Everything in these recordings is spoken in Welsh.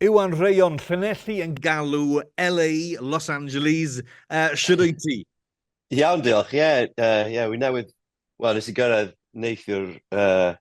Yw An Rheon Llanelli yn galw LA Los Angeles? Uh, Shwd wyt ti? Iawn, diolch. Ie, yeah, uh, yeah, wi newydd... Wel, nes i gyrraedd neithiwr uh,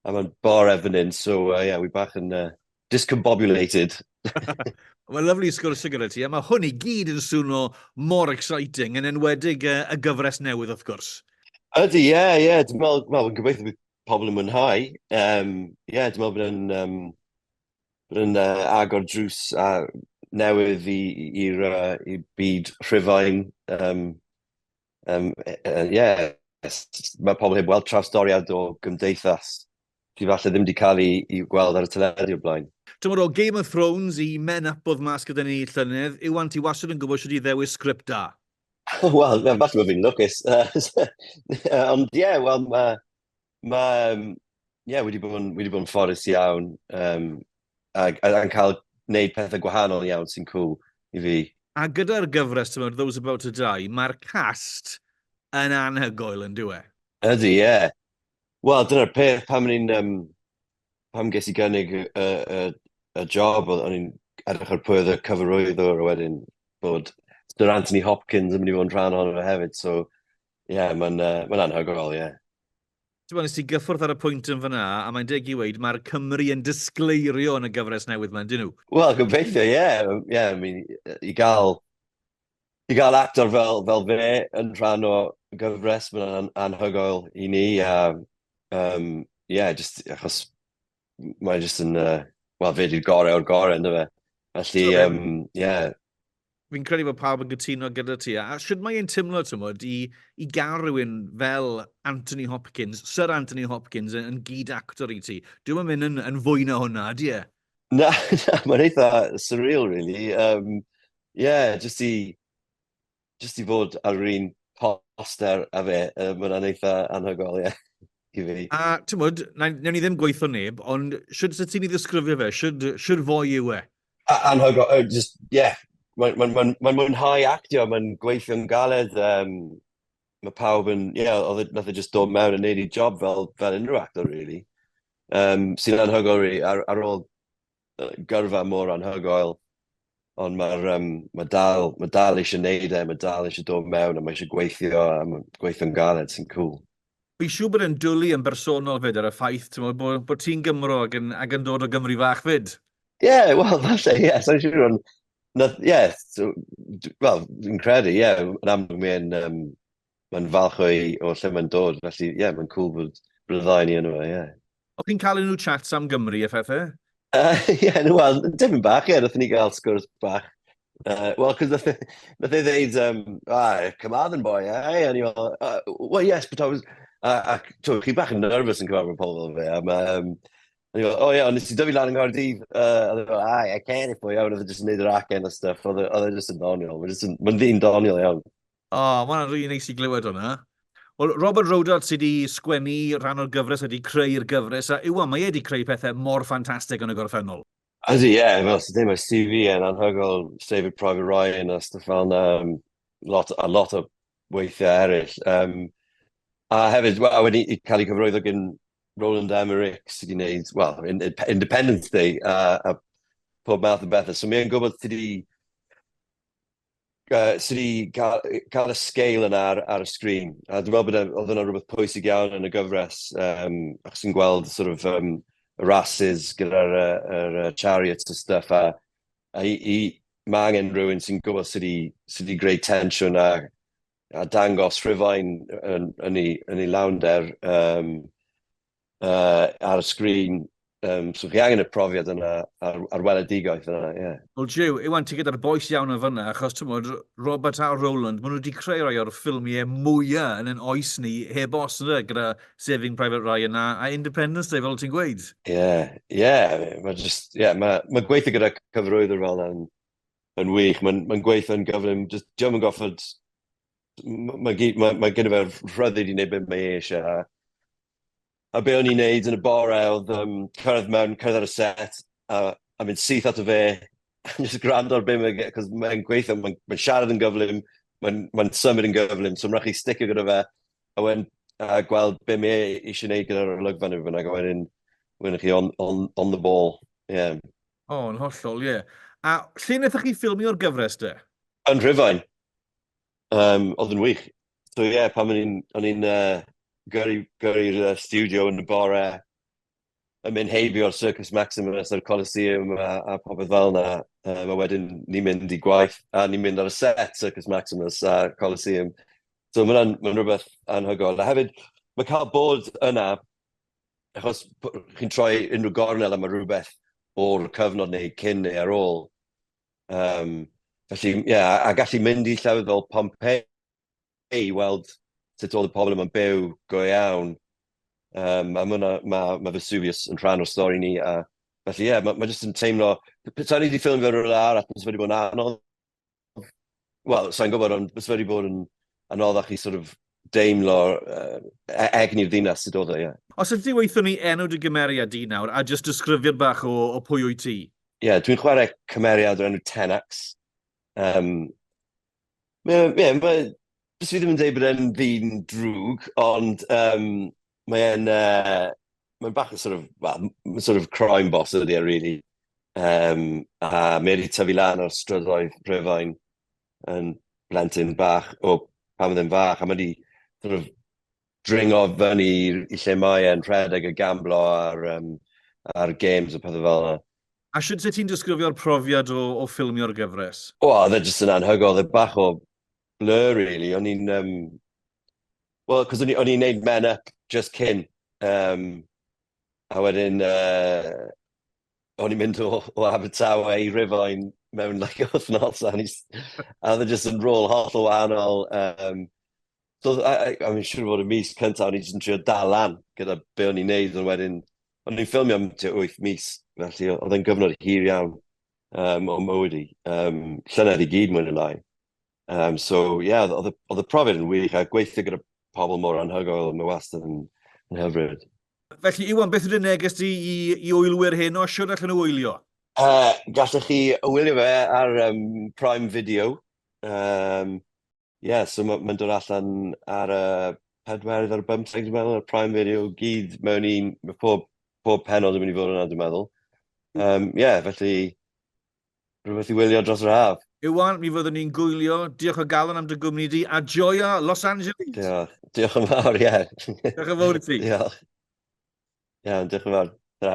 a mae'n bore fan hyn, so uh, yeah, wi bach yn uh, discombobulated. Mae'n lyflu sgwrs gyda ti, a mae hwn i gyd yn swno mor exciting, yn enwedig uh, y gyfres newydd, wrth gwrs. Ydy, ie, yeah, ie. Yeah. Dwi'n meddwl, well, gobeithio bydd pobl yn mwynhau. Um, ie, yeah, dwi'n meddwl bod yn... Um, yn uh, agor drws a newydd i'r uh, byd rhyfain. Um, um, uh, yeah, mae pobl heb weld trawstoriad o gymdeithas sydd falle ddim wedi cael ei, ei gweld ar y teledu o blaen. Tymor o Game of Thrones i men up oedd mas gyda ni llynedd, yw anti wasod yn gwybod sydd wedi ddewis sgript da? Wel, falle bod fi'n lwcus. Ond ie, wel, mae Mae, um, ie, yeah, wedi bod yn, wedi bod yn fforus iawn, um, a, a, a cael gwneud pethau gwahanol iawn sy'n cool i fi. A gyda'r gyfres, ti'n Those About to Die, mae'r cast yn anhygoel yn diwe. Ydy, ie. Yeah. Wel, dyna'r peth pam ni'n... Um, pam ges i gynnig y, y, y, y job, o'n i'n edrych ar pwy oedd y cyfarwyddwr wedyn bod Sir Anthony Hopkins yn mynd i fod yn rhan ohono fe hefyd, so Ie, yeah, mae'n uh, ma anhygoel, ie. Yeah. Ti'n bod, nes ti gyffwrdd ar y pwynt yn fyna, a mae'n deg i weid, mae'r Cymru yn disgleirio yn y gyfres newydd mae'n dyn nhw. Wel, gobeithio, ie. Yeah. Ie, yeah, I mean, i gael, i gael actor fel, fel fe yn rhan o gyfres, mae'n an anhygoel i ni, a, um, ie, yeah, just achos mae jyst yn, uh, wel, fe di'r gorau o'r gorau, ynddo fe. Felly, ie. Um, yeah. Fi'n credu bod pawb yn gytuno gyda ti. A sut mae e'n tymlo, tymod, i, i gael rhywun fel Anthony Hopkins, Sir Anthony Hopkins, yn, yn gyd actor i ti? Dwi'n mynd yn, yn fwy na hwnna, di e? Na, na mae'n eitha surreal, really. Um, yeah, just i jyst i fod ar yr un poster a fe, uh, mae hwnna'n eitha anhygol, ie. Yeah. A, ti'n mwyd, newn ni ddim gweithio neb, ond sydd sydd ti'n ei ddisgrifio fe? Sydd fwy yw e? Anhygol, uh, just, yeah. Mae'n ma, ma, ma, ma mwynhau actio, mae'n gweithio'n galed, um, mae pawb yn, ie, yeah, oedd e, nath e just dod mewn yn neud i job fel, fel unrhyw actor, really. Um, sy'n anhygol, really, ar, ar ôl gyrfa mor anhygoel, ond mae'r um, mae dal, mae dal eisiau neud e, mae dal eisiau dod mewn a mae eisiau gweithio a mae gweithio'n galed sy'n cool. Fi siw bod yn dwlu yn bersonol fyd ar y ffaith ti'n meddwl bod, bod ti'n Gymro ac yn, ac yn dod o Gymru fach fyd. Ie, yeah, wel, falle, ie, yeah, sa'n siŵr ond, ie, yeah, so, wel, fi'n credu, ie, yeah, yn amlwg mae'n, um, mae'n falch o'i, o lle mae'n dod, felly, ie, yeah, mae'n cool bod bryddau ni yno, ie. Yeah. O chi'n cael unrhyw chats am Gymru a phethau? Uh, yeah, no, well, dim bach, ie, yeah, nath ni gael sgwrs bach. Uh, well, cos nath, nath ei ddeud, um, ah, Carmarthen boy, eh? And you're, uh, well, yes, but I was, uh, ac, to, chi bach yn nervous yn cyfarfod pobl fel fe, am, um, And he oh yeah, ond nes i dyfu lan yng Nghaerdydd. Uh, oedd e fel, ai, I can't if I iawn, oedd e jyst yn neud yr acen a stuff. Oedd e, e jyst yn doniol. Mae'n ddyn doniol iawn. O, oh, mae'n rhi neis i glywed hwnna. Wel, Robert Rodart sydd wedi sgwennu rhan o'r gyfres, wedi creu'r gyfres, a yw mae wedi creu pethau mor ffantastig yn y gorffennol. Ydy, ie, yeah, fel sydd ddim o'r CV yn anhygol, David Private Ryan a stuff fel yna, um, lot, a lot o weithiau eraill. Um, a hefyd, a wedi cael ei cyfroeddo gen Roland Emmerich sydd wedi gwneud, well, in, in, Independence Day a, a pob math o bethau. So mae'n gwybod sydd wedi Sori, cael y sgêl yna ar y sgrin. A dwi'n meddwl bod oedd hwnna rhywbeth pwysig iawn yn y gyfres, achos ti'n gweld sort of y races gyda'r chariots a stwff, a mae angen rhywun sy'n gwybod sut i greu tensiwn a dangos Rhufain yn ei lawnder. uh, ar y sgrin, um, so chi angen y profiad yna ar, ar weledigaeth yna, ie. Yeah. Wel, Jiw, Iwan, ti gyda'r boes iawn o fyna, achos ti'n bod, Robert a Roland, maen nhw wedi creu rhai o'r ffilmiau mwyaf yn yn oes ni, heb os yna, gyda Saving Private Ryan a, a Independence Day, fel ti'n gweud. Ie, yeah, ie, yeah, mae just, ie, yeah, mae ma gweithio gyda cyfrwyddwr fel yn, yn wych, mae'n ma gweithio yn gyflym, just, diolch yn goffod, mae ma, ma, ma gen i fe'r rhyddid i wneud beth mae eisiau, A be o'n i'n neud yn y bore oedd um, cyrraedd mewn, cyrraedd ar y set, a, a mynd syth at y fe, a just gwrando ar be mae'n gweud, cos mae'n gweithio, mae'n mae siarad yn gyflym, mae'n mae symud yn gyflym, so mae'n rhaid chi sticio gyda fe, a wedyn uh, gweld be mae e eisiau gwneud gyda'r olygfa neu fyna, a wedyn, wedyn chi on, on, on the ball. Yeah. O, oh, yn hollol, ie. Yeah. A lle wnaethoch chi ffilmio'r gyfres de? Yn Rhyfain. Um, oedd yn wych. So ie, yeah, pan o'n i'n, o'n i'n uh, gyrru, gyrru'r uh, studio yn y bore, yn mynd heibio'r Circus Maximus a'r Coliseum a, a popeth fel yna. Um, a wedyn ni'n mynd i gwaith, a ni'n mynd ar y set Circus Maximus a Coliseum. So mae hwnna'n ma rhywbeth anhygoel. A hefyd, mae cael bod yna, achos chi'n troi unrhyw gornel am rhywbeth o'r cyfnod neu cyn neu ar ôl, Um, felly, ie, yeah, a gallu mynd i llefydd fel Pompeii i weld sut oedd y pobl yma'n byw go iawn. Um, a mae ma, ma Vesuvius yn rhan o'r stori ni. A, felly, ie, yeah, mae ma jyst yn teimlo... Petawn ni wedi ffilm fe rhywle arall, mae'n wedi bod yn anodd wel, sa'n gwybod, ond bys wedi bod yn anoddach i sort of deimlo uh, egni'r ddinas sydd oedd o, ie. Yeah. Os ydy weithio ni enw dy gymeriad di nawr, a jyst disgrifiad bach o, o pwy wyt ti? Ie, yeah, dwi'n chwarae cymeriad o'r enw Tenax. Um, ie, yeah, yeah, bys fi ddim yn dweud bod e'n ddyn drwg, ond um, Mae'n uh, mae'n bach yn sort of, well, sort of crime boss ydy e, really. Um, a Mary tyfu lan o'r strydoedd Rhyfain yn blentyn bach, o pan oedd e'n fach, a mae wedi sort of dringo fyny i lle mae e'n rhedeg y gamblo ar, um, ar games a pethau fel yna. A sydd se ti'n disgrifio'r profiad o, o ffilmio'r gyfres? O, oh, dde jyst yn anhygol, dde bach o blur, really. O'n i'n um, Wel, cos o'n i, o'n i'n neud man up just cyn. Um, a wedyn, uh, o'n i'n mynd o, o Abertawe i Rifain mewn like wythnos, a o'n i, a oedd e just yn rôl holl o wahanol. Um, so, I, I, I mean, siwr fod y mis cyntaf, o'n i just yn trio dal lan gyda be o'n i'n neud, ond wedyn, o'n i'n ffilmio am 8 mis, felly oedd e'n gyfnod hir iawn um, o mywyd i. Um, llynedd i gyd mwyn y lai. Um, so, ie, yeah, oedd y profiad yn wych, a gweithio gyda pobl mor anhygoel, mae wastad yn, yn hyfryd. Felly, Iwan, beth ydyn neges ti i, i wylwyr hyn o siwr allan o wylio? Uh, gallech chi wylio fe ar um, Prime Video. Um, yeah, so mae'n ma dod allan ar y uh, pedwerydd ar y bymtheg, dwi'n meddwl, ar Prime Video, gyd mewn un, mae pob, pob penod yn mynd i fod yna, dwi'n meddwl. Um, yeah, felly, rhywbeth i wylio dros yr haf. Iwan, mi fyddwn ni'n gwylio. Diolch o galon am dy gwmni di, a joio Los Angeles! Diolch, diolch yn fawr, ie. Diolch yn fawr i ti. Diolch. Iawn, diolch yn fawr. Ta.